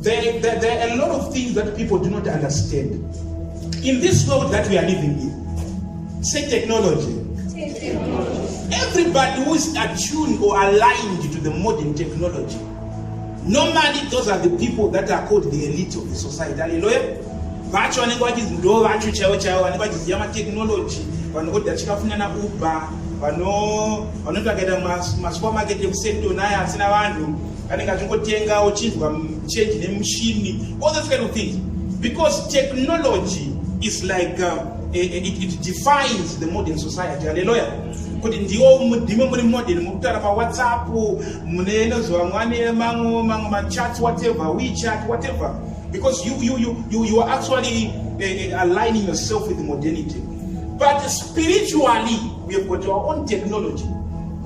There, there, there are a lot of things that people do not understand. In this world that we are living in, say technology. technology. Everybody who is attuned or aligned to the modern technology, normally those are the people that are called the elite of the society. Hallelujah. vacho vanenge vachinzi ndo vacho chaivo chaivo vanenge vachiziva matechnology vanhu voda chikafunyana uber vanoita vakaita masupermarket ekusetonaya asina vanhu anenge achingotenga uchinzwa change nemushini all those kind of things because technology is like uh, eh, eh, it, it defines the modern society haleluya kuti ndiwo mudhimwe muri modern muri kutaura pawhatsapp mune inoziva mwane mamwe mamwe machats whatever wechat whatever because you, you, you, you, you are actually uh, aligning yourself with modernity but spiritually We have got our own technology.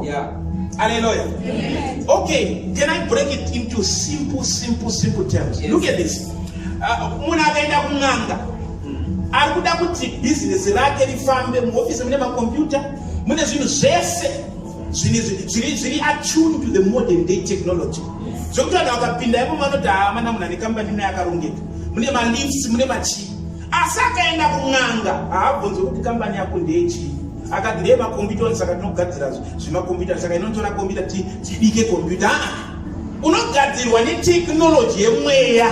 Yeah. Hallelujah. Amen. Okay, can I break it into simple, simple, simple terms? Yes. Look at this. Uh, munhu akaenda kun'anga hmm. ari kuda kuti bhizinesi rake rifambe muhofisi mune makombiyuta mune zvinhu zvese zviri attuned to the modern day technology zvekuti vanhu vakapinda imo vanoti haa ah, mana munhu ane kambani mune yakarongeka mune malifts mune machii asi akaenda kun'anga haabvunzi kuti kambani yako ndeyechii akati ndeye makombiyuta one saka tinogadzira zvemakombiyuta saka inotora kombiyuta tibike kombiyuta aa ah, unogadzirwa neteknoloji yemweya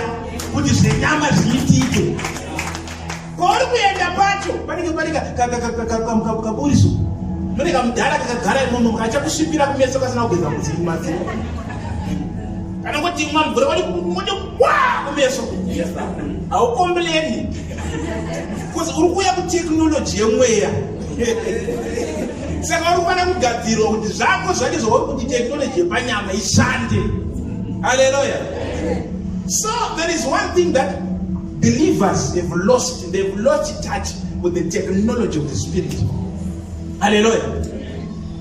kuti zvenyama zviitike kwauri kuenda pacho panenge pane kaburiso mune kamudhara kakagara imomo kachakusvipira kumeso kasina kugeza mudzii mazii kana kuti imwa mvura wari kumeso haukompleni bcause uri kuuya kuteknoloji yemweya saka uri kufanira kugadzirwa kuti zvako zvacho zvauri kuti teknoloji yepanyama ishande aleluya so there is one thing that believers have lost they've lost touch with the technology of the spirit aleluya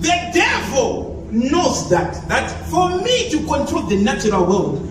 the devil knows that that for me to control the natural world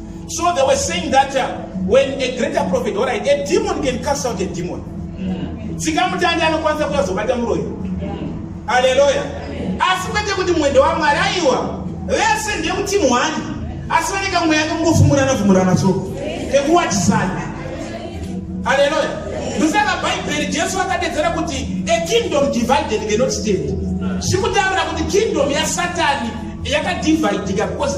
So they were saying that uh, when a greater prophet, all right, a demon can cast out a demon. Mm. Tsika mutanda anokwanisa kuya zobata muroyi. Mm. Hallelujah. Asi kwete kuti mwende wa Mwari aiwa. Vese ndiye kuti mwani. Asi vane kamwe yake kungofumurana fumurana so. Kekuwatisana. Hallelujah. Ndosaka Bible Jesu akadedzera kuti a kingdom divided cannot stand. Sikutaura kuti kingdom ya Satani yakadividika because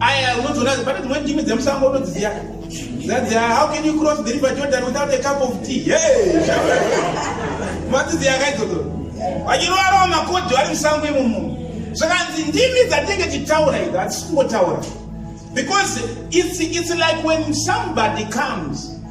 aya unodziona pane dzimweni ndimi dzemusango unodziziva zadziva how can you cross the river jordan without a cup of tea hey madziziva akaidzodzo vachirova rova makodhi vari musango imumu zvakanzi ndimi dzatenge titaura idzi hatisingotaura because it's, it's like when somebody comes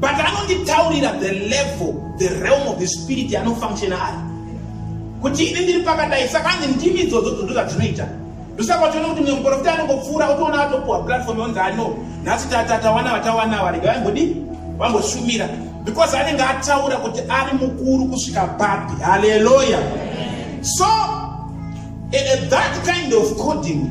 but anonditaurira the level the realm of the spirit anofunctiona ari kuti ini ndiri pakadai saka anzi ndimi idzodzo dzodo zvadzinoita ndosaka uchiona kuti mumwe muporofita anongopfuura utoona atopuwa platform yonzi ano nhasi tatatawana vatawana varega vambodii vamboshumira because anenge ataura kuti ari mukuru kusvika papi haleluya so eh, eh, that kind of coding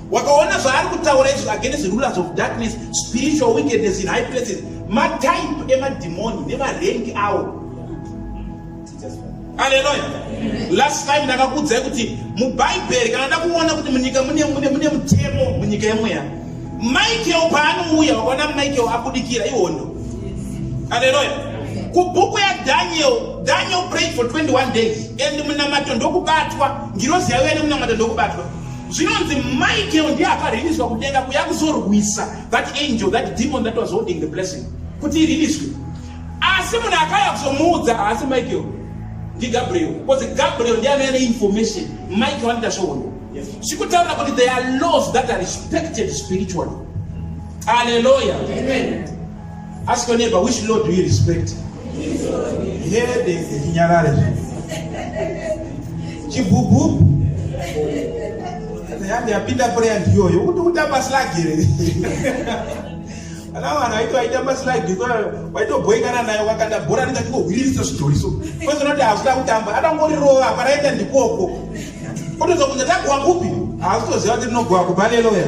wakaona zvaari kutaura izvi against rulers of darkness spiritual wickedness in high places matype emadhimoni nevarengi awo aleluya last time ndakakuudzai kuti mubhaibheri kana ndakuona kuti munyika mune mutemo munyika yemweya michael paanouya wakaona michael abudikira ihondo aleluya kubhuku yadaniel daniel prayed for 21 days and munamato ndokubatwa ngirozi yaiuya nemunamato ndokubatwa zvinonzi michael ndiye akariliswa kudenga kuya kuzorwisa that angel that demon that was holding the blessing kuti iriliswe asi munhu akaya kuzomuudza haasi michael ndigabriel because gabriel ndiye anove neinformation michael anoita svohono zvikutaura kuti there are laws that are respected spiritually aleluya Ask your neighbor, which Lord do you respect? Hede chinyarare chibhubhubhu yandi yapinda prayer ndiyoyo kuti kutamba slagi here ana vanhu aito aitamba slagi waitobhoikana nayo wakanda bhora ringa ndingohwiririsa zvidhori so kwese unoti hazvida kutamba atangorirova paraenda ndikoko otozokunza takuwa kupi haazitoziva kuti rinogowa kubaleloya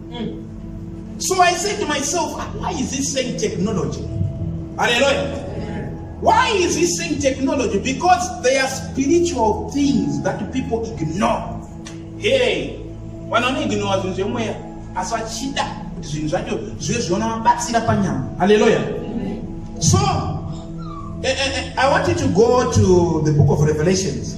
Mm. So I said to myself, ah, why is he saying technology? Hallelujah. Why is he saying technology? Because they are spiritual things that people ignore. Hey, vanoneignora zvinhu zvemweya asi vachida kuti zvinhu zvacho zvive zvinovabatsira panyama haleluya so eh, eh, eh, i want you to go to the book of revelations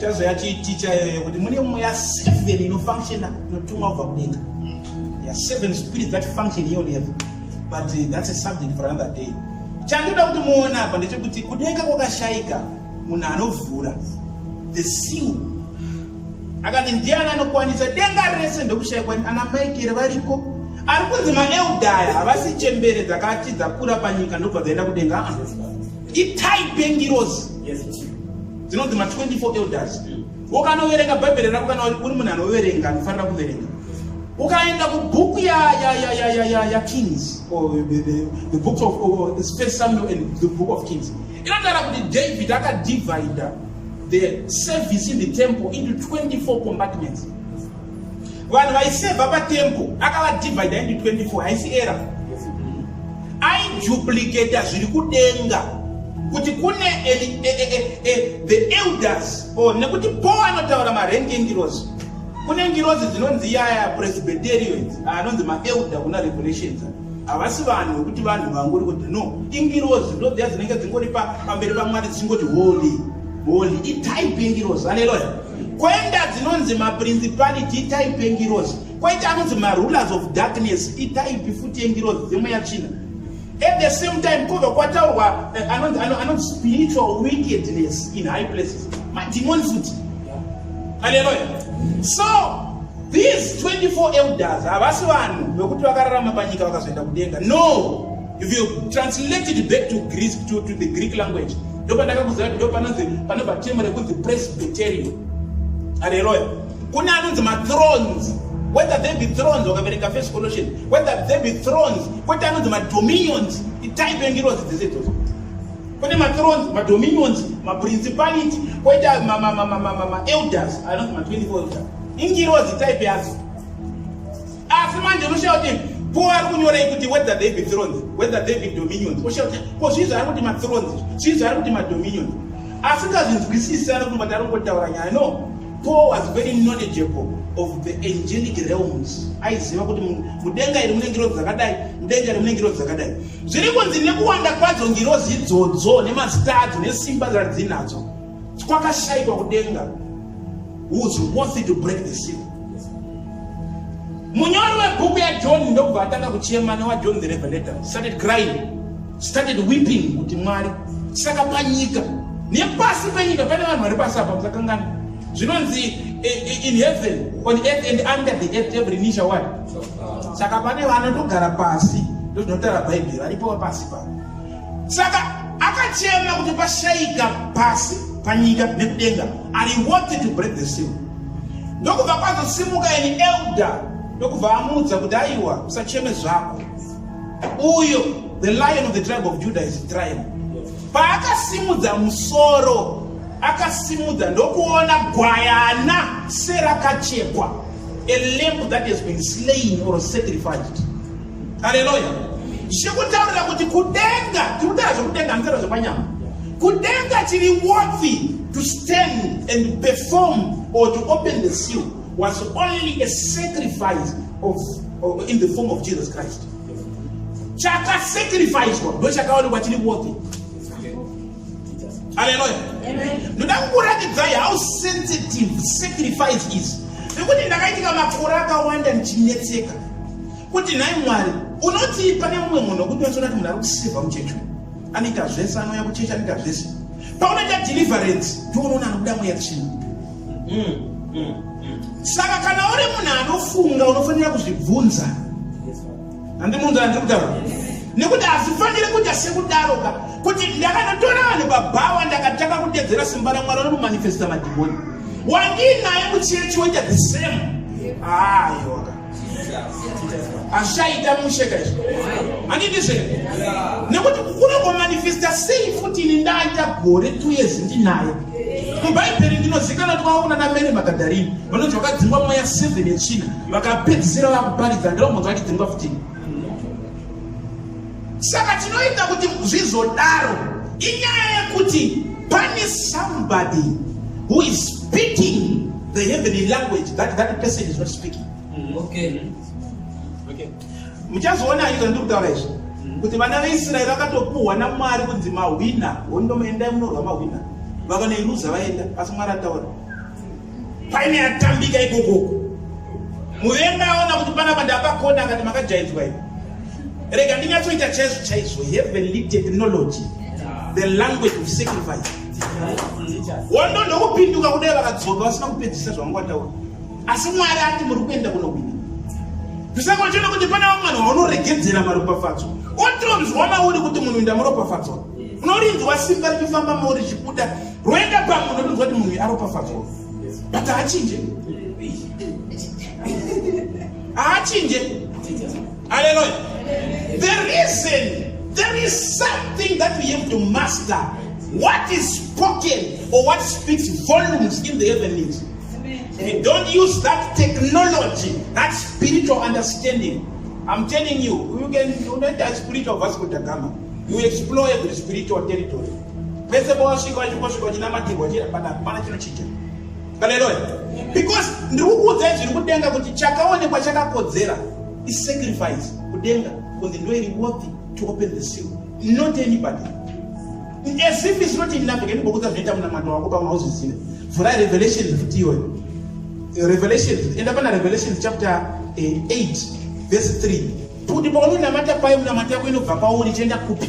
Chazo yachi teacher yoyo kuti mune mweya seven inofunctiona inotumwa kubva kudenga. Yeah, seven spirits that function here on earth. But uh, that's a subject for another day. Chandoda kuti muone apa ndechekuti kudenga kwakashaika munhu anovhura the seal akati ndiani anokwanisa denga rese ndokushaikwa ana maikere variko ari kunzi maeldaya havasi chembere dzakati dzakura panyika ndobva dzaenda kudenga ah. itai bengirozi yes, dzinonzi ma 24 elders ukanoverenga bhaibheri rako kana uri munhu anoverenga anofanira kuverenga ukaenda kubhuku yakings the book of oh, first samuel and the book of kings inotaura kuti david akadivida the service in the temple into 24 compartments vanhu vaiseva patembo akavadivhaida indi 24 haisi era aiduplicata zviri kudenga kuti kune e, e, e, the elders or nekuti po anotaura marengi engirozi kune ngirozi dzinonzi yaya presbyterians anonzi maelder kuna revelations havasi vanhu vekuti vanhu vangori kuti no ingirozi ndodziya dzinenge dzingori pamberi pamwari dzingoti holy holy itype yengirozi aleloya Kwenda dzinonzi maprincipality itaipi engirozi. Kwaita anonzi marulers of darkness itaipi futi engirozi dzimwe yatsvina. At the same time kova kwataurwa eh, anonzi anonzi spiritual wickedness in high places. Mademon futi. Hallelujah. So these 24 elders havasi vanhu vekuti vakararama panyika vakazoenda kudenga. No. if you translate it back to greece to, to the greek language ndopandakakuziva kuti ndopanonzi panobva temo rekunzi presbyterian haleluya kune anonzi mathrones whether they be thrones wakaverenga first colossian whether they be thrones kwete anonzi madominions itype yengirozi dzese idzodzo kune mathrones madominions maprincipality kwete maelders anonzi ma24 elders ingirozi type yazo asi manje unoshaya kuti ko ari kunyorei kuti whether they be thrones whether they be dominions oshaya kuti ko zvii zvaari kuti mathrones zvii zvaari kuti madominions asingazvinzwisisi ari kumbati ari kungotaura nyaya no paul was very knowledgeable of the angelic realms aiziva kuti mudenga iri mune ngirozi dzakadai mudenga iri mune ngirozi dzakadai zviri kunzi nekuwanda kwadzo ngirozi idzodzo nemazita adzo nesimba dzadzinadzo kwakashaikwa kudenga who's worthy to break the seal munyori webhuku yajohn ndokubva atanga kuchema newajohn the revelator started crying started weeping kuti mwari saka panyika nepasi penyika pane vanhu vari pasi apa musakangana zvinonzi eh, eh, in heaven on earth and under the earth every knee shall what saka pane vanotogara pasi ndozvinotaura bhaibheri varipo pasi pano saka akachema kuti pashaika pasi panyika nekudenga and he wanted to break the seal ndokubva kwazosimuka an elder ndokubva amuudza kuti aiwa usacheme zvako uyo the lion of the tribe of judah is trial paakasimudza musoro akasimudza ndokuona gwayana serakachekwa a lamp that has been slain or sacrificed haleluya zvikutaurira kuti kudenga tikutaura zvekudenga hanitaura zvepanyama kudenga chiri worthy to stand and perform or to open the seal was only a sacrifice of, of in the form of jesus christ chakasacrificwa ndo chakaonekwa chiri worthy haleluya ndoda kukuratidzai how sensitive sacrifice is nekuti ndakaitika makore akawanda ndichinetseka kuti nhai mwari unotii pane mumwe munhu wekuti wachiona kuti munhu ari kuseva muchechi anoita zvese anouya kuchechi anoita zvese paunoita deliverance ndounoona anobuda mweya tsvina mm, mm, mm. saka kana uri munhu anofunga unofanira kuzvibvunza handimunzana ndiri kutaura nekuti hazvifaniri kuita sekudaroka kuti ndakanotora vanhu babhawa ndakatanga kudedzera simba ramwari anomumanifesta madhimoni wandiinaye muchechi woita the same ayoka ashaita mushe ka izvo handidizve nekuti kukura kwamanifesta sei futi ini ndaita gore two years ndinaye mubhaibheri ndinozikana kuti kwaona namene magadharini vanonzi vakadzingwa mweya seven yechina vakapedzisira vakuparidza ndirakungonzi vachidzingwa futini saka chinoita kuti zvizodaro inyaya yekuti pane somebody who is speaking the heavenly language that that person is not speaking mm-hmm. okay okay muchazoona izvo ndiri kutaura izvi mm-hmm. kuti vana veisraeri vakatopuhwa namwari kunzi mahwina hondo maendai munorwa mahwina vakanoiruza vaenda asi mwari ataura Paine atambika ikokoko. Muvengi aona kuti pana pandapakona akati makajaidzwa ipo. Rega ndinyatsoita chaizvo chaizvo heavenly technology the language of sacrifice. Wondo ndokupinduka kudai vakadzoka vasina kupedzisa zvavanga vataura. Asi Mwari ati muri kuenda kunohwina. Zvisangochona kuti pana vamwe vanhu vanoregedzera maropafadzo. Otironzwa mauri kuti munhu ndamuropafadzo. Unorinzwa simba richifamba mauri chibuda Roenda kwangu ndodonzwa kuti munhu aropafadzwa but haachinje haachinje aleluya the reason there is something that we have to master what is spoken or what speaks volumes in the heavenlies we don't use that technology that spiritual understanding i'm telling you you can unoita spiritual vasco da gama you explore every spiritual territory Pese pawasvika wachingosvika uchinamatirwa chira pana pana chinochinja. Haleluya. Because ndiri kukuudzai zviri kudenga kuti chakaonekwa chakakodzera is sacrifice kudenga kunzi ndo iri worthy to open the seal not anybody as if it's not enough ngeni bokudza zvinoita munamato wako pamwe hauzvizive vhurai revelations futi iyoyo revelations enda pana revelations chapter 8 eh, verse 3 kuti paunonamata paye munamata yako inobva pauri ichienda kupi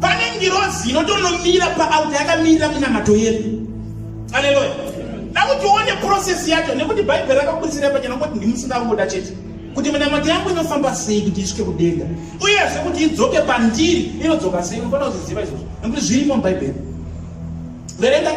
pane ngirozi inotonomira paauta yakamirira minamato yedu aleluya dakuti uone process yacho nekuti bhaibheri rakakurisira pachena kuti ndimusingangoda chete kuti minamato yangu inofamba sei kuti isvike kudenga uyezve kuti idzoke pandiri inodzoka sei unofanira kuziziva izvozvo nekuti zvirimo mubhaibheri verengai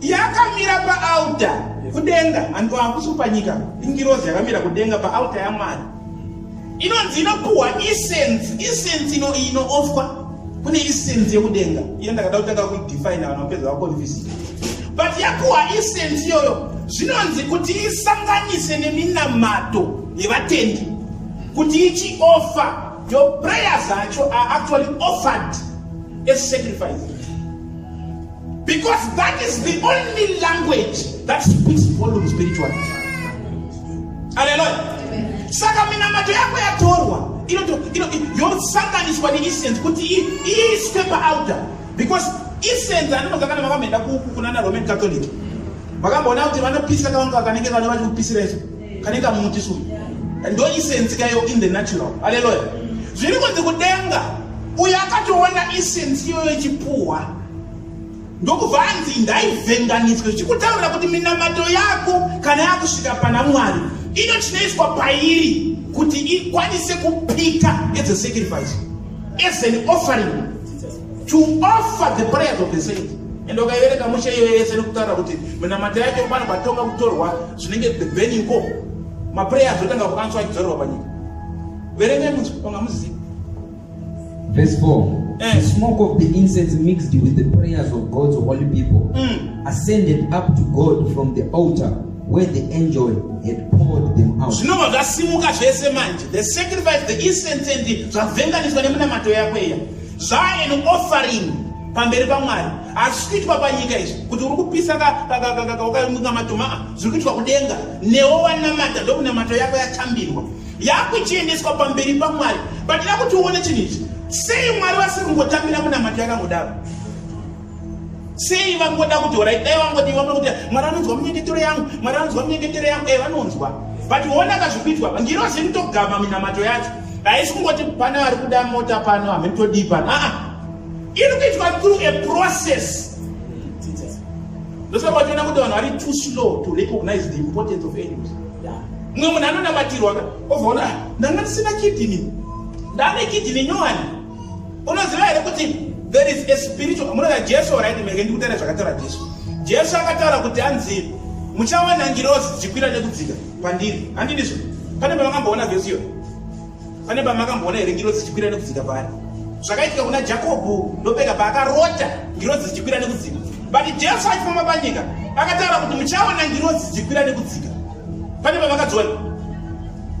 yakamira paalta kudenga and hakusi panyika ingirozi yakamira kudenga paalta yamwari inonzi inopuhwa essence essence ino inoofwa kune essence yekudenga iyo ndakada kutanga kuidefine vanhu vapedza vakonfisi but yapuhwa essence iyoyo zvinonzi kuti isanganise neminamato yevatendi kuti ichiofa your prayers acho are actually offered as sacrifice Because that is the only language that speaks volume spiritually. Hallelujah. Saka minamato yako yatorwa yosanganiswa neincense kuti iiswe paalta because incense anononga kana vakamhenda kunana roman catholic vakamboona kuti vanopisa kavanga vakanenge vane vati kupisira isu kanenge kamuti su ndo incense kayo in the natural aleluya zviri kunzi kudenga uyo akatoona incense iyoyo ichipuhwa ndokubva anzi ndaivhenganiswe zvichikutaurira kuti minamato yako kana yakusvika pana mwari ino chinoiswa pairi kuti ikwanise kupika as a sacrifice as an offering to offer the prayers of the saint and ukaivereka mushe iyo yese nekutaura kuti minamato yacho pano patonga kutorwa zvinenge the venue ko maprayers otanga kukanswa achidzorerwa panyika verengai munzwi onga muzivi Verse 4. Eh. The smoke of the incense mixed with the prayers of God's holy people mm. ascended up to God from the altar where the angel had poured them out. zvinobva zvasimuka zvese manje the sacrifice the incense and zvavhenganiswa nemunamato yako iya zvaa an offering pamberi pamwari hazvisi kuitwa panyika izvi kuti uri kupisa kakaunga matoma zviri kuitwa kudenga newo wanamata ndokunamato yako yatambirwa yakuchiendeswa pamberi pamwari but ida kuti uone chinhu ichi sei mwari vasiri kungotambira munamato yakangodaro sei vangoda kuti orai dai vangoti vamwe kuti mwari anonzwa munyengetero yangu mwari anonzwa munyengetero yangu e vanonzwa but uona kazvikuitwa vangirozi nitogama minamato yacho haisi kungoti pana vari kuda mota pano hamheni todii pano aa iri kuitwa through a process ndosaka vationa kuti vanhu vari too slow to recognize the importance of angels mumwe munhu anonamatirwa ka ovaona ah, ndanga ndisina kidini ndane kidini nyowani unoziva here kuti there is a spiritual munoda jesu oraiti menge ndikutaura zvakataura jesu jesu akataura kuti anzi muchawana ngirozi dzichikwira nekudzika pandiri handidizvo pane pavakamboona vhesi iyoyo pane pamakamboona here ngirozi chikwira nekudzika paari zvakaitika kuna jakobho ndopeka paakarota ngirozi chikwira nekudzika but jesu achifamba panyika akataura kuti muchaona ngirozi chikwira nekudzika pane pamakadziona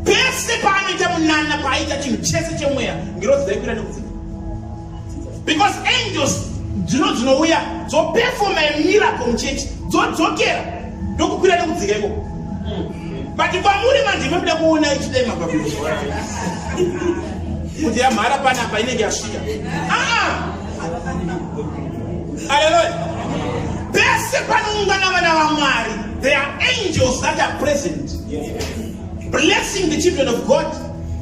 pese paanoita munana paaita chinhu chese chemweya ngirozi dzaikwira nekudzika because angels dzino dzinouya dzoperfoma miracle muchurch dzodzokera ndokukwira nekudzika iko but kwamuri manje mabida kuona ichidai mababia kuti yamhara panapa inenge yasvika aa aleloya pese panoungana vana vamwari there are angels that are present blessing the children of god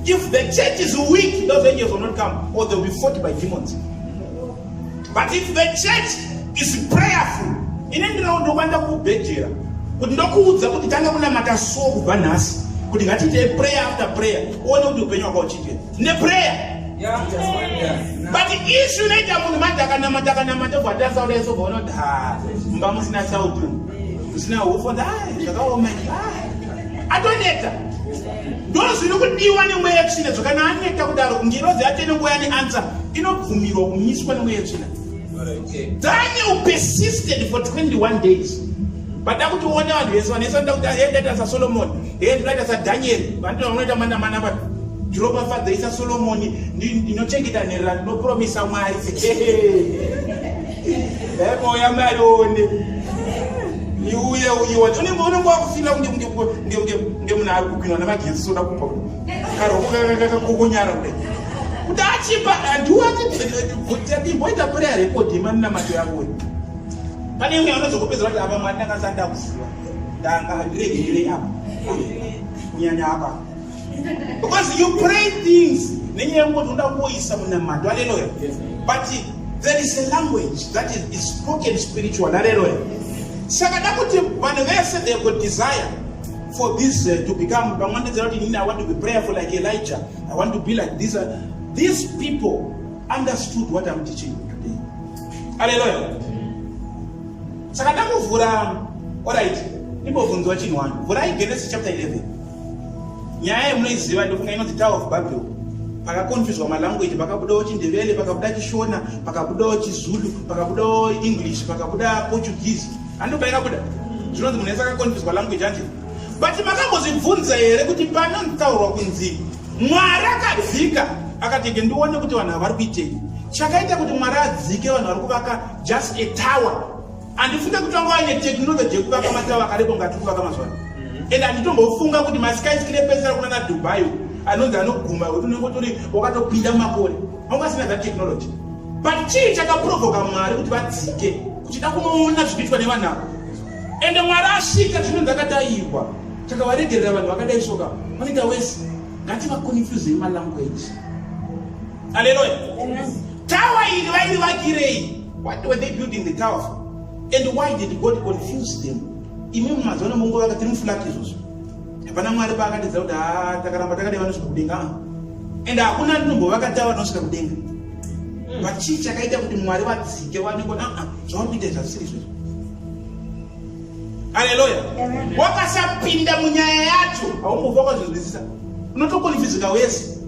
If the church is weak, those angels will not come, or they'll be fought by demons. But if the church is prayerful, ine ndirawo ndokwanisa kubhedhera kuti ndokuudza kuti tanga kunamata so kubva nhasi kuti ngatiitei prayer after prayer uone kuti upenyu waka uchiitei neprayer but isu inoita munhu manje akanamata akanamata bwatarisa kudai so bvaona kuti ha mumba musina sautu musina hufo zvakaoma atoneta ndozviri kudiwa nemweya yetsvina dzoka naaneta kudaro kungirozi yatene nguva yane ansa inobvumirwa kumiswa nemweya yetsvina daniel persisted for 21 days bada kuti uone vanhu vese vanese vanoda kuti aendaita sasolomoni endaita sadaniel vanoti vanoita mana mana vati ndiropafadzaisa solomoni ndinochengeta nherera ndinopromisa mwari emoya mwari one iuye uyiwa unenge wakufila kunge kunge munhu ari kupinwa nemagetsi soda kumba karoko kakakokonyara kudai kuti achipa andiwatiimboita prayer record yemanamato yavo pane imwe anozokupedza vati apa mwari ndanga sati ndakuziva ndanga handiregererei apa kunyanya apa because you pray things nenyaya yekuti unoda kuoisa munamato haleluya but there is a language that is spoken spiritual haleluya saka da kuti vanhu vese they could desire for this uh, to become vamwe vanotedzera kuti inini i want to be prayerful like elijah i want to be like this uh, these people understood what i'm teaching you today aleluya saka ndakuvhura orit ndimbobvunzwa chinhu wani vhurai genesis chapter 11 nyaya yemunoiziva ndofunga inonzi tower of babylon pakakonfuzwa malanguage pakabudawo chindevele pakabuda chishona pakabudawo chizulu pakabudawo english pakabuda portuguese Andobaira kuda. Zvinonzi munhu yese akakonfiswa language anje. But makambozvibvunza here kuti panontaurwa kunzi Mwari akadzika akati ke ndione kuti vanhu vari kuitei. Chakaita kuti Mwari adzike vanhu vari kuvaka just a tower. Andifunge kuti vanga vaine technology yekuvaka matawa akarepo ngati kuvaka mazuva ano. Mm-hmm. And anditombofunga kuti maskyscrapers ari kunana Dubai anonzi anoguma kuti unenge utori wakatopinda makore. vanga vasina that technology but chii chakaprovoka mwari kuti vadzike kuchida kunoona zvinoitwa nevanhu ava ende mwari asvika chinonzi akadayirwa chakavaregerera vanhu vakadai soka vanoita wese ngativaconfusei malanguage aleluya tawa iri vairi vakirei what were they building the tower for and why did god confuse them imi mumazuva nemunguva vakati mufulaki izvozvo hapana mwari paakatiza kuti haa takaramba takadai vanosvika kudenga and hakuna ndinombovakatava vanosvika kudenga hmm. but chii chakaita kuti mwari vadzike vaniko aa ah, ah, zvauri kuita zvasiri izvozvo aleluya wakasapinda munyaya yacho haumbofa kwazvinzwisisa unotokonifizika wese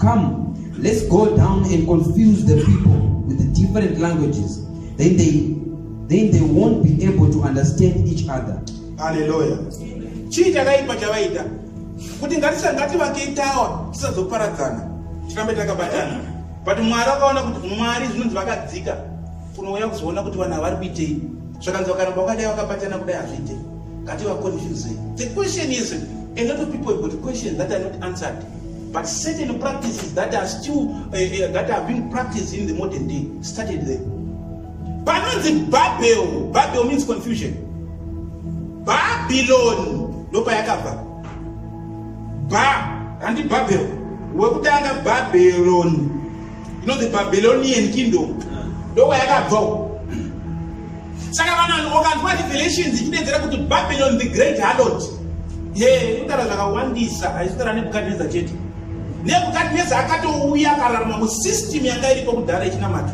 Come, let's go down and confuse the people with the different languages. Then they, then they won't be able to understand each other. Hallelujah. Chii chakaipa chavaita kuti ngatisangati vakeitawa tisazoparadzana tirambe takabatana but mwari akaona kuti mwari zvinonzi vakadzika kunouya kuzoona kuti vanhu havari kuitei zvakanzi vakaramba vakadai vakabatana kudai hazviite ngati vaconfuse the question is a lot of people got questions that are not answered But certain practices that are still uh, uh, that are being practiced in the modern day started there. Panonzi Babel, Babel means confusion. Babylon ndopa yakabva. Ba handi Babel. Wekutanga Babylon. You know the Babylonian kingdom. Ndopa yakabva. saka vanhu ukanzwa revelations ichidedzera kuti babylon the great harlot he kutaura zvakawandisa haisitaura nebukadneza chete nebukadneza akatouya akararama musystem yanga iripo kudhara ichinamata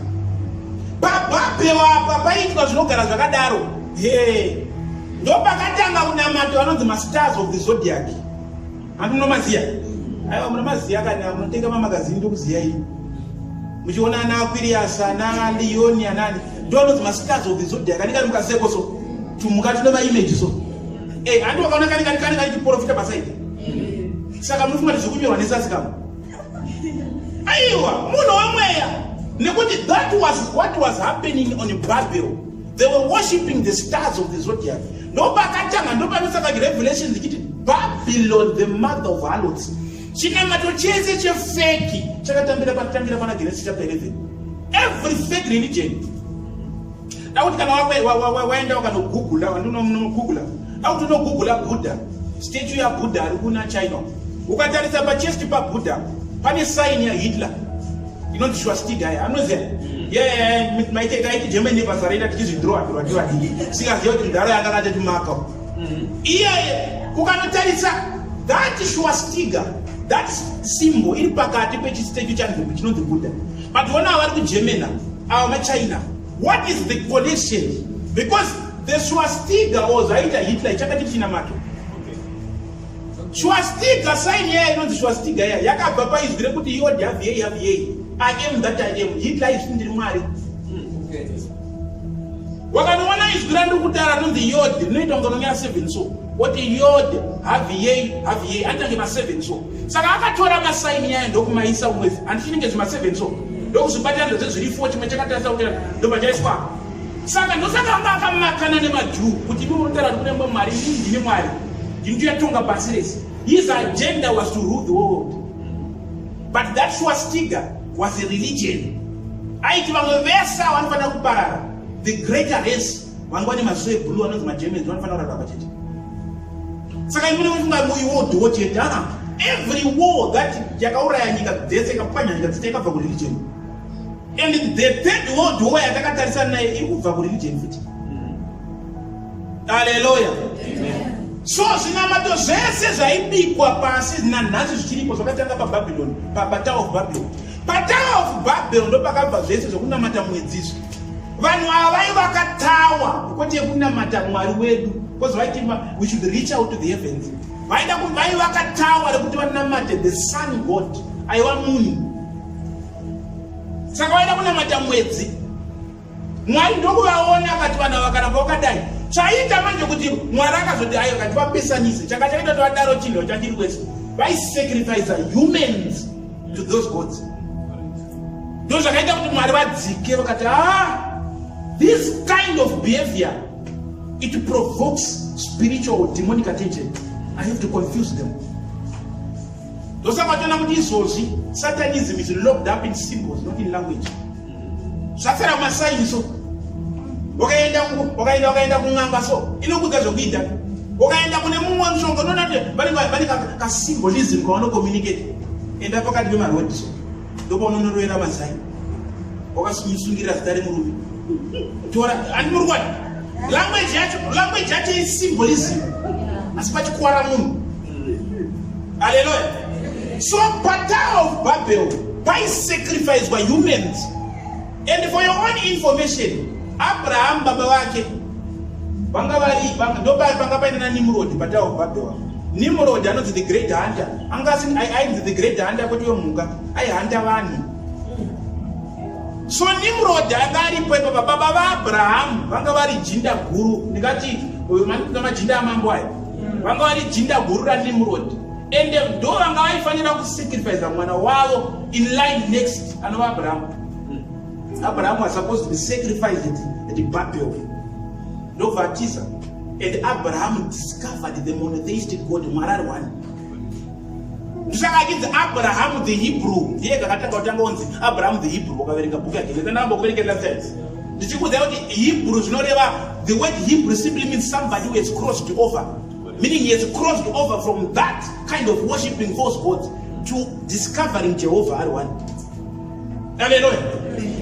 pababewa apa paitwa zvinogara zvakadaro he ndopakatanga kunamata vanonzi mastars of the zodiac hanti munomaziya aiwa munomaziya kana munotenga mamagazini ndokuziya ii muchiona ana akwiriyasi ana liyoni anani ndononzi mastars of the zodiac anenge ari mukaseko so tumuka tune maimeji so e eh, handi wakaona kani kani kani kani chiporofita pasaidi saka munofunga kuti zvekunyorwa nesasi kama aiwa munhu wemweya nekuti that was what was happening on babel they were worshipping the stars of the zodiac ndopakatanga ndopanosaka revelation dzichiti babylon the mother of halots Chinamato chese chefeki chakatambira pakutangira pana Genesis chapter 11. Every fake religion. Dakuti kana waenda ukanogoogla, wandinogoogla. Dakuti unogoogla Buddha, statue ya Buddha ari kuna China. Ukatarisa pa chest pa Buddha pane sign ya Hitler. Inonzi swastika ya, anoziya. Mm. Yeah, maiteka iti Germany basa raita tichizvidrowa drowa ndiwa dii. Sikaziya kuti ndaro yanga ngateti mako. iyaye ukanotarisa that shuwastiga that simbo iri pakati pechistatu chanzvimbo chinonzi buda but ona vari kugermana ava machina what is the connection because the shuwastiga or zvaita hitler chakati china macho shuwastiga saini yaya inonzi shuwastiga yaya yakabva paizwi rekuti iodi haviyei haviyei i am that i am hitler izvi ndiri mwari wakanoona izwi randiri kutaura rinonzi yod rinoita kunge unonyara seven so woti yod haviyei haviyei anditange maseven so saka akatora masaini yayo ndokumaisa umwezi handichinenge zvimaseven so ndokuzvibatira ndozve zviri fo chimwe chakatarisa kuti ndobva chaiswa saka ndosaka anga akamakana nemajuu kuti imi munotaura kuti kunemba mwari ini ndini mwari ndindiyatonga pasi rese his agenda was to rule the world but that swastiga was a religion aiti vamwe vese avo vanofanira kuparara the greater race vanga vane maziso eblue anonzi magermans vanofanira kurara pamba chete saka imune mufunga muiwo dhiwo chete aa every war that yakauraya nyika dzese ikapwanya nyika dzese ikabva kureligion and the third world war yatakatarisana naye ikubva kureligion futi Hallelujah. Amen. So zvinamato zvese zvaibikwa pasi nanhasi zvichiripo zvakatanga paBabylon, paBatal of Babylon. Batal of Babylon ndopakabva zvese zvekunamata mwedzizvo. Vanhu ava vaivaka tawa kwete yekunamata Mwari wedu because vaiti we should reach out to the heavens. Vaida vaivaka tawa rekuti vanamate the sun god aiwa munhu. Saka vaida kunamata mwedzi mwari ndokuvaona akati vana vakaramba wakadai chaita manje kuti mwari akazoti ayo kati vapesanise chaka chaita tovadaro chinhu chachiri kwese vaisacrifice humans to those gods ndo zvakaita kuti mwari vadzike vakati a ah, this kind of behavior it provokes spiritual demonic attention i have to confuse them ndosaka toona kuti izvozvi satanism is locked up in symbols not in language zvapfera kumasaini so wakaenda wakaenda wakaenda kun'anga so inokudza zvekuita wakaenda kune mumwe mushonga unoona kuti vane kasymbolism kavanokomunicate enda pakati pemarodi so ndopaunonorovera mazai wakasungirira zita remurume tora ani muri kwani language yacho language yacho isymbolism asi pachikwara munhu aleluya so patower of babel paisacrificwa humans And for your own information, Abraham baba vake vanga vari ndobari panga paine na Nimrod patawa kubabhewa. Nimrod anonzi the great hunter. Anga asini ainzi the great hunter kuti wemhuka aihanda vanhu. So Nimrod anga aripo ipo baba vaAbraham vanga vari jinda guru. Ndikati uyu manikuta majinda amambo aya. Vanga vari jinda guru ra Nimrod. And ndo vanga vaifanira kusacrifice mwana wavo in line next anova Abraham. Abraham was supposed to be sacrificed at, at Babel. No baptism. And Abraham discovered the monotheistic God, Marar one. Ndisakakidza Abraham the Hebrew. Ndiye kakatanga kutanga onzi Abraham the Hebrew wakaverenga book yake. Ndina namba kuverenga that sense. Ndichikuudza kuti Hebrew zvinoreva the word Hebrew simply means somebody who has crossed over. Meaning he has crossed over from that kind of worshiping false gods to discovering Jehovah ari one. Haleluya.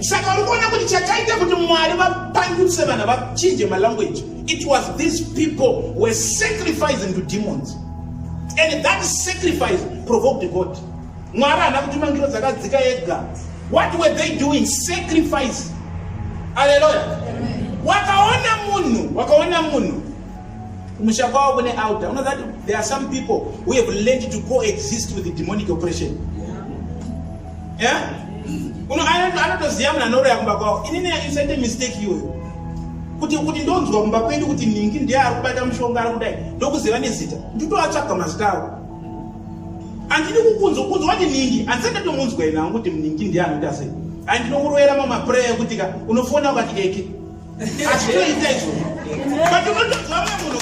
Saka uri kuona kuti chakaita kuti Mwari vapangutse vana vachinje malanguage. It was these people were sacrificing to demons. And that sacrifice provoked God. Mwari haana kuti mangiro dzakadzika ega. What were they doing? Sacrifice. Haleluya. Wakaona munhu, wakaona munhu kumusha kwavo kune altar. You know that there are some people who have learned to coexist with the demonic oppression. yeah? uno anotoziva munhu anoroya kumba kwavo inini isite mistake iyoyo kuti kuti ndonzwa kumba kwedu kuti ningi ndiye ari kubata mushonga ari kudai ndokuziva nezita nditoatsvaga mazita avo andidi kukunzwa kunzwa kuti ningi andisati ndatomunzwa ina angu kuti ningi ndiye anoita sei andinokuroyera mamapureya ekuti ka unofona ukati eke achitoita izvo but unotonzwa mwe munhu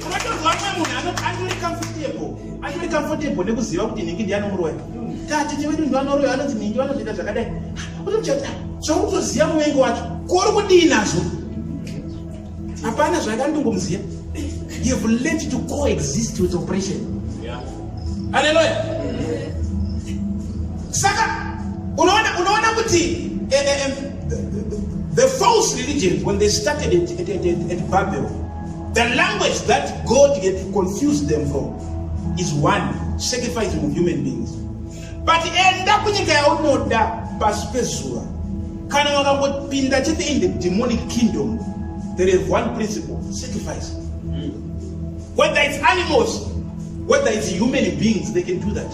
unotonzwa mwe munhu andiri comfortable andiri comfortable nekuziva kuti nhingi ndi anomuroi tatete vedu ndi vanoroi anonzi nhingi vanozoita zvakadai utochata zvakutoziva muvengi wacho kori kudii nazvo hapana zvakandongomuziva you've learned to coexist with oppression yeah. haleluya saka unoona unoona kuti eh, eh, eh, the false religions when they started at, at, at, at, at babel the language that god had confused them for is one sacrificing of human beings but enda kunyika yaunoda pasi pezuva kana wakangopinda chete in the demonic kingdom there is one principle sacrifice mm. whether it's animals whether it's human beings they can do that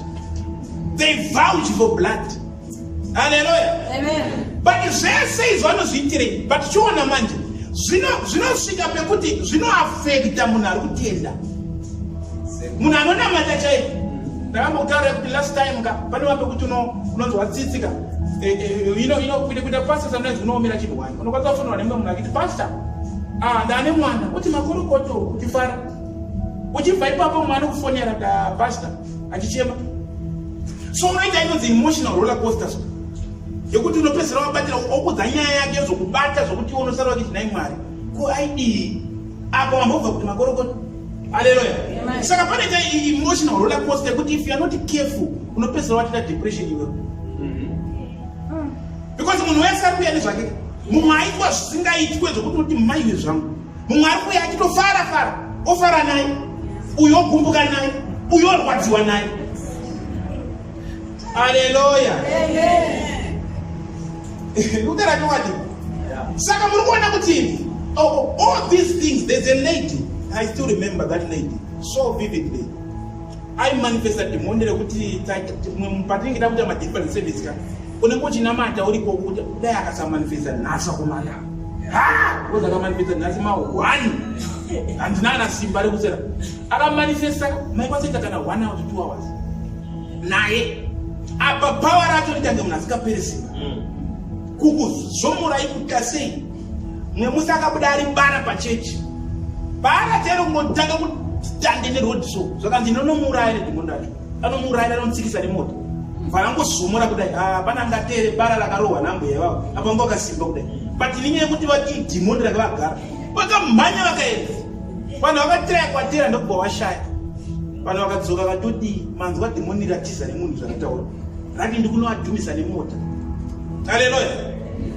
they vouch for blood haleluya amen but zvese izvo anozviitirei but chiona manje zvinosvika pekuti zvinoafekta munhu ari kutenda munhu anonamata chaipo ndakambotaura kuti last time ka pane wambe kuti unonzwa tsitsi ka eh, eh, ino ino kuita kuita pastor sometimes unoomera chinhu wani unokwanisa kufonera nemumwe munhu akiti pastor ah ndane mwana kuti makorokoto kuti fara uchibva ipapo mwana kufonera da pastor achichema so unoita inonzi emotional roller coaster so yekuti unopedzisira wabatira okudza nyaya yake yozokubata zvokuti iwe unosara wakiti nai mwari ko aidii apa wambobva kuti makorokota aleluya saka pane ta emotional roller coaster yekuti if you are not careful unopedzisira watita depression iwe mm-hmm. because munhu wese ari kuya nezvake mumwe aitwa zvisingaitwe zvokuti uti maiwe zvangu mumwe ari kuuya achitofara fara ofara naye uyo ogumbuka naye uyo orwadziwa naye aleluya kutera chokwadi saka muri kuona kuti oh, oh, all these things there's a lady i still remember that lady so vividly aimanifesta dhimoni rekuti patinenge takuita madeliverance service ka unenge uchinamata uriko kuti dai akasamanifesta nhasi akomana ozakamanifesta nhasi ma one handina kana simba rekusera akamanifesta maikwaseta kana one hour to two hours naye apa power racho ritange munhu asikapere simba mm. kukuzvomorai kuta sei mwe musi akabuda ari bara pachechi paana tero kungotanga kutande nerodiso zvakanzi ndinonomuuraya nedhimoni racho anomuuraya anotsikisa nemoto mvana angozomora kudai ah, pana angatere bara rakarohwa nambuya ivavo apa anga akasimba kudai but ninye yekuti vati dhimoni ranga vagara vakamhanya vakaenda vanhu vakatiraya kwatera ndokubva vashaya vanhu vakadzoka vatodii manzwa dhimoni ratiza nemunhu zvarataura rati ndikunoadhumisa nemota aleloya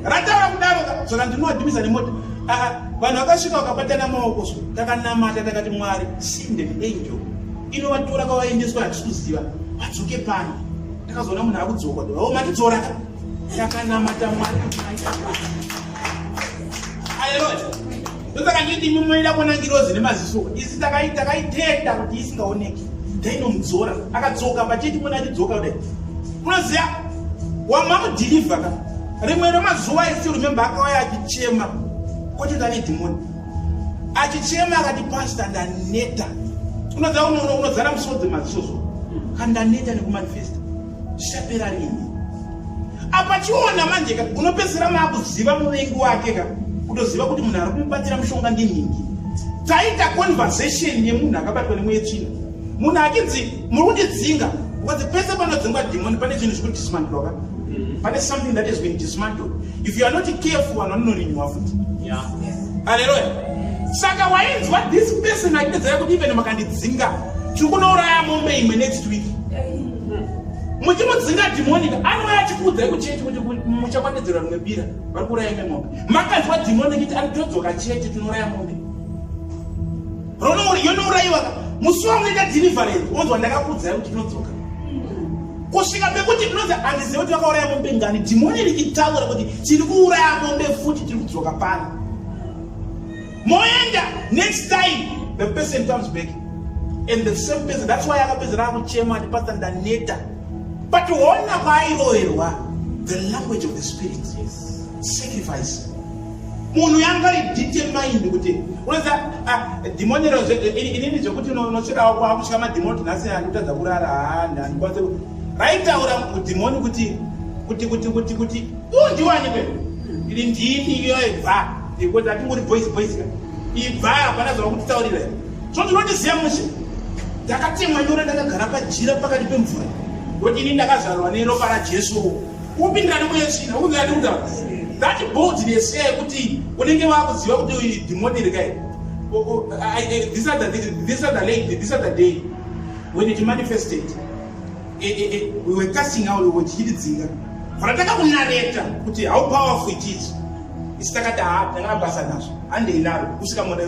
rataura kudaro saka ndinoadhumisa nemota ah, ah, vanhu vakasvika vakabatana maoko so takanamata takati mwari sinde angel inovatora kwavaendeswa hatisi kuziva vadzoke pano ndakazoona munhu akudzokwa doao matidzora ka takanamata mwari aleluya ndosaka nditi imi munoida kuona ngirozi nemaziso isi takaitenda kuti isingaoneki tainomudzora akadzoka pachiti muna atidzoka kudai unoziva wamamudhilivha ka rimwe remazuva isi rememba akauya achichema kwatotane dhimoni achichema akati pasta ndaneta unoziva unoona unozara musodzi maziso so ka ndaneta nekumanifesta zvichapera rini apa chiona manje ka unopedzisira maakuziva muvengi wake ka kutoziva kuti munhu ari kumubatira mushonga ndinhingi taita conversation yemunhu akabatwa nemweyetsvina munhu achinzi muri kundidzinga because pese panodzingwa dhimoni pane chinhu chiri kudismantloka mm-hmm. pane something that has been dismantled if you are not careful vanhu vanonorinyiwa futi aleluya saka wainzwa this person aipedzera kuti even makandidzinga tiri kunouraya mombe imwe next week muchimudzinga dhimoni anouya achikuudzai kuchete kuti muchakwanedzera rimwe bira vari kuuraya imwe mombe makanzwa dhimoni kuti anotodzoka chete tinouraya mombe yonouraiwa ka musi wamunoita deliverance onzwa ndakakudzai kuti ndinodzoka kusvika pekuti ndinonzi handizive kuti vakauraya mombe ngani dhimoni richitaura kuti tiri kuuraya mombe futi tiri kudzoka pano moenda next time the person comes back and the same person that's why akapedzera akuchema ati pasta ndaneta but hona kwaairoverwa the language of the spirit yes. sacrifice munhu yanga idetermined kuti unoza ah, dhimonero inini zvekuti unosvikawo kwakutya madhimoni nhasi andikutadza kurara handikwanise raitaura dhimoni kuti kuti kuti kuti kuti undiwanike ili ndini iyo ibva ikuti atinguri boys boys ka ibva hapana zvava kutitaurira so ndinondiziva mushe ndakatemwa nyora ndakagara pajira pakati pemvura kuti ini ndakazvarwa neropa rajesu Upindira nemwe yechina ukunge ati kuda that boldness iya yekuti unenge wakuziva kuti dhimoni iri kai this other this other lady this other day when it manifested eh, eh, eh, we were casting out we chichidzinga rataka kunareta kuti how powerful it is isi takati ha tangana basa nazvo handei naro kusvika munhu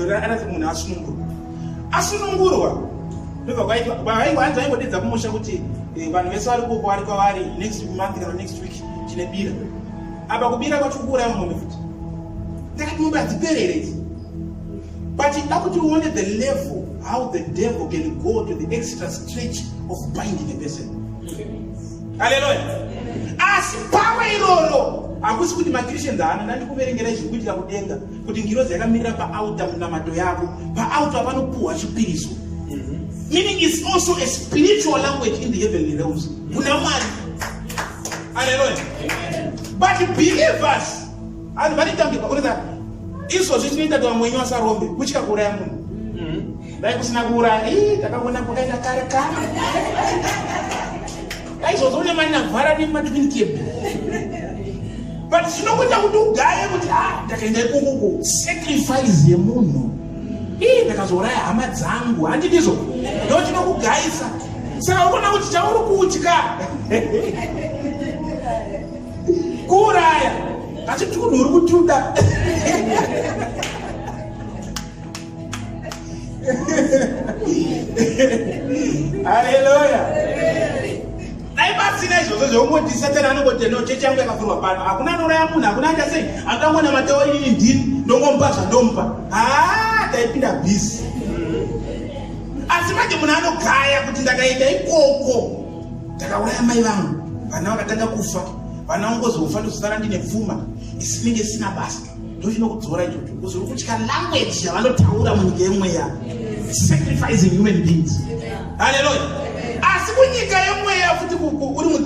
munhu asunungurwa asunungurwa ndobva kwaitwa kwaaiwa hanzi aingodedza kumusha kuti eh, vanhu vese vari kuko vari kwavari next month kana next week chine bira apa kubira kwacho kuuraya mumwe futi ndakati mombe hadziperere idzi but da kuti uone the level how the devil can go to the extra stretch of binding a person haleluya asi pamwe iroro hakusi kuti makristians haana ndandikuverengera izvi kuitira kudenga kuti ngirozi yakamirira paauta munamato yako paauta panopuhwa chipiriso mhm. meaning is also a spiritual language in the heavenly realms kuna mwari aleluya but believers vanhu vanitambirwa kurita izvozvi tinoita kuti vamwenyu vasarombe kutyakura yamunhu Dai kusina kuuraya, ii takagona kwakaenda kare kare. Dai zvozoona mani navhara nematwin cable. But zvinokuita kuti ugaye kuti ah ndakaenda ikukuku. Sacrifice yemunhu. Ii ndakazouraya hama dzangu, handidizvo. Ndoo chinokugaisa. Saka ukona kuti chauri kutya. Kuuraya. Asi tunhu uri kutuda. haleluya dai pasina izvozvo zveungoti satani anongoti no chechi yangu yakavhurwa pano hakuna anouraya munhu hakuna aita sei angangoona matewa inini ndini ndongomupa zvandomupa haa taipinda bhizi asi manje munhu anogaya kuti ndakaita ikoko ndakauraya mai vangu vana vakatanga kufa vana vangu kozofa ndozosara ndine pfuma isinenge isina basa ndochinokudzora ichocho kuzi uri kutya language yavanotaura munyika yemweya sacrificing human beings haleluya asi kunyika yemweya futi uri